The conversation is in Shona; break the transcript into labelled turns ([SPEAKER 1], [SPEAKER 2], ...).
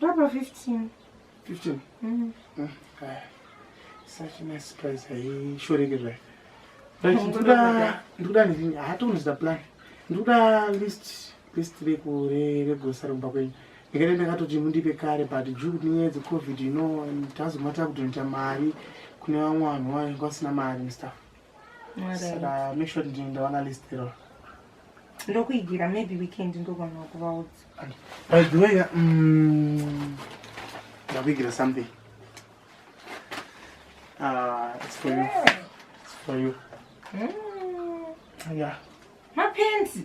[SPEAKER 1] Papa 15. 15? Mm. Mm. Kaya. Such a nice surprise. Hai, sure ke zvayo. But ndikuda ndikuda ndini hatoni zita plan. Ndikuda list list reku re re grocery kumba kwenyu. Ndikati ndakatoti mundipe kare but due kuti nyaya dze covid you know tazomata kudonator mari kune vamwe vanhu vayo vasina mari and stuff. saka make sure kuti ndawana list iro
[SPEAKER 2] ndokuigira maybe weekend ndogona kuvaudza by the way
[SPEAKER 1] mm, ndakuigira something ah, it's for you it's for you hmm? yeah mapenzi